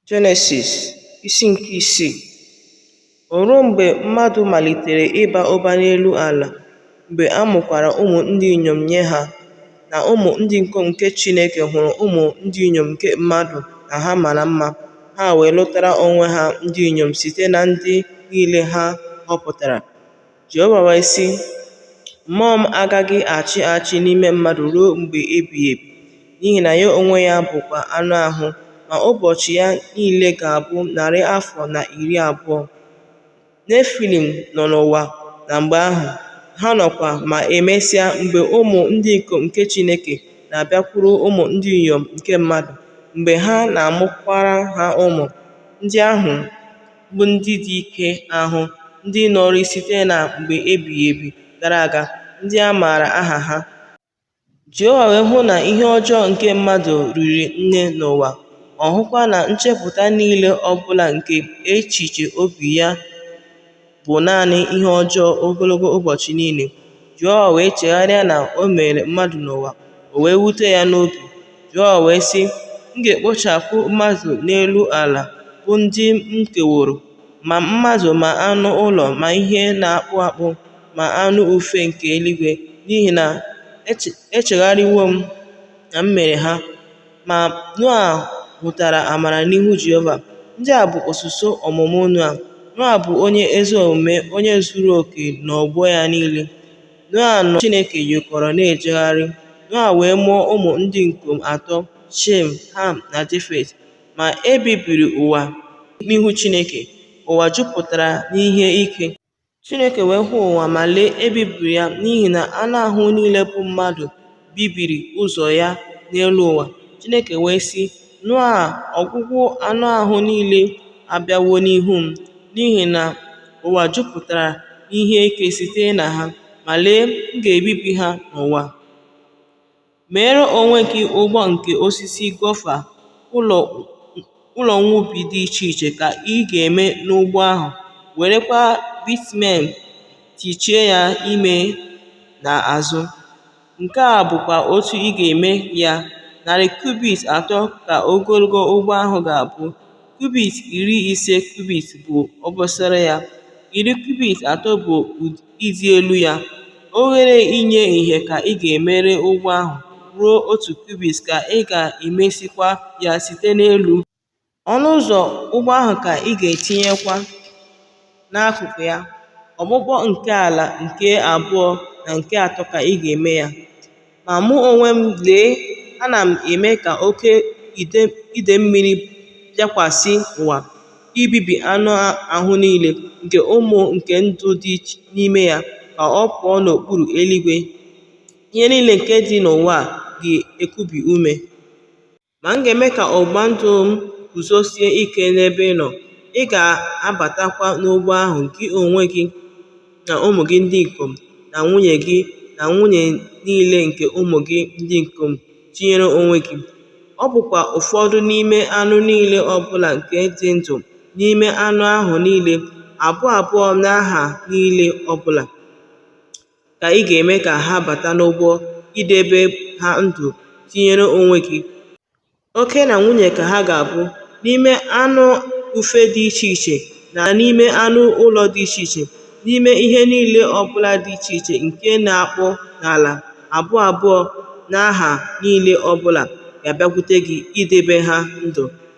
Jenesis isi nke isii O ruo mgbe mmadụ malitere ịba ụba n'elu ala, mgbe a mụkwara ụmụ ndị inyom nye ha, na ụmụ ndị ikom nke Chineke hụrụ ụmụ ndị inyom nke mmadụ na ha mara mma, ha wee lụtara onwe ha ndị inyom site na ndị niile ha họpụtara. Jehova wee sị, Mmụọ m agaghị achị achị n'ime mmadụ ruo mgbe ebighị ebi, n'ihi na ya onwe ya bụkwa anụ ahụ, ma ụbọchị ya niile ga-abụ narị afọ na iri abụọ. Nefilim nọ n'ụwa na mgbe ahụ, ha nọkwa ma emesịa mgbe ụmụ ndị ikom nke Chineke na-abịakwuru ụmụ ndị inyom nke mmadụ, mgbe ha na-amụkwara ha ụmụ, ndị ahụ bụ ndị dị ike ahụ, ndị nọrị site na mgbe ebighị ebi gara aga, ndị a maara aha ha. Jehova wee hụ na ihe ọjọọ nke mmadụ riri nne n'ụwa, ọ hụkwa na nchepụta niile ọ bụla nke echiche obi ya bụ naanị ihe ọjọọ ogologo ụbọchị niile. Jehova wee chegharịa na o mere mmadụ n'ụwa, o wee wute ya n'obi. Jehova wee sị, M ga-ekpochapụ mmadụ n'elu ala bụ ndị m keworo, ma mmadụ ma anụ ụlọ ma ihe na-akpụ akpụ ma anụ ufe nke eluigwe, n'ihi na echegharịwo m na m mere ha. Ma Noa hụtara amara n'ihu Jehova. Ndị a bụ usoro ọmụmụ Noa. Noa bụ onye ezi omume, onye zuru oke n'ọgbọ ya niile. Noa na Chineke yikọrọ na-ejegharị. Noa wee mụọ ụmụ ndị ikom atọ, Shem, Ham, na Jefet. Ma e bibiri ụwa n'ihu Chineke. Ụwa jupụtara n'ihe ike. Chineke wee hụ ụwa ma lee ebibiri ya n'ihi na anụ ahụ niile bụ mmadụ bibiri ụzọ ya n'elu ụwa. Chineke wee sị Noa, ọgwụgwụ anụ ahụ niile abịawo n'ihu m, n'ihi na ụwa jupụtara ihe ike site na ha, ma lee, m ga-ebibi ha n'ụwa. Meere onwe gị ụgbọ nke osisi gofa ụlọ nwubi dị iche iche ka ị ga-eme n'ụgbọ ahụ, werekwa bitumen tichie ya ime na azụ. Nke a bụkwa otu ị ga-eme ya, narị kubit atọ ka ogologo ụgbọ ahụ ga-abụ, kubit iri ise kubit bụ obosara ya, iri kubit atọ bụ ịdị elu ya, oghere inye ihe ka ị ga-emere ụgbọ ahụ ruo otu kubit ka ị ga-emesikwa ya site n'elu, ọnụ ụzọ ụgbọ ahụ ka ị ga-etinyekwa n'akụkụ ya, okpukpu nke ala nke abụọ na nke atọ ka ị ga-eme ya. Ma mụ onwe m, lee, ana m eme ka oke idee mmiri bịakwasị ụwa, ibibi anụ ahụ niile nke ume nke ndụ dị n'ime ya ka ọ pụọ n'okpuru eluigwe. Ihe niile nke dị n'ụwa ga-ekubi ume. Ma m ga-eme ka ọgbụgba ndụ m guzosie ike n'ebe ị nọ, ị ga-abatakwa n'ụgbọ ahụ, gị onwe gị, na ụmụ gị ndị ikom, na nwunye gị, na nwunye niile nke ụmụ gị ndị ikom, tinyere onwe gị. Ọ bụkwa ụfọdụ n'ime anụ niile ọ bụla nke dị ndụ, n'ime anụ ahụ niile, abụọ abụọ na ha niile ọ bụla. ka ị ga-eme ka ha bata n'ụgbọ idebe ha ndụ tinyere onwe gị. Oke na nwunye ka ha ga-abụ n'ime anụ ufe dị iche iche na n'ime anụ ụlọ dị iche iche, n'ime ihe niile ọbụla dị iche iche nke na-akpụ n'ala, abụọ abụọ na ha niile ọbụla ga-abịakwute gị idebe ha ndụ.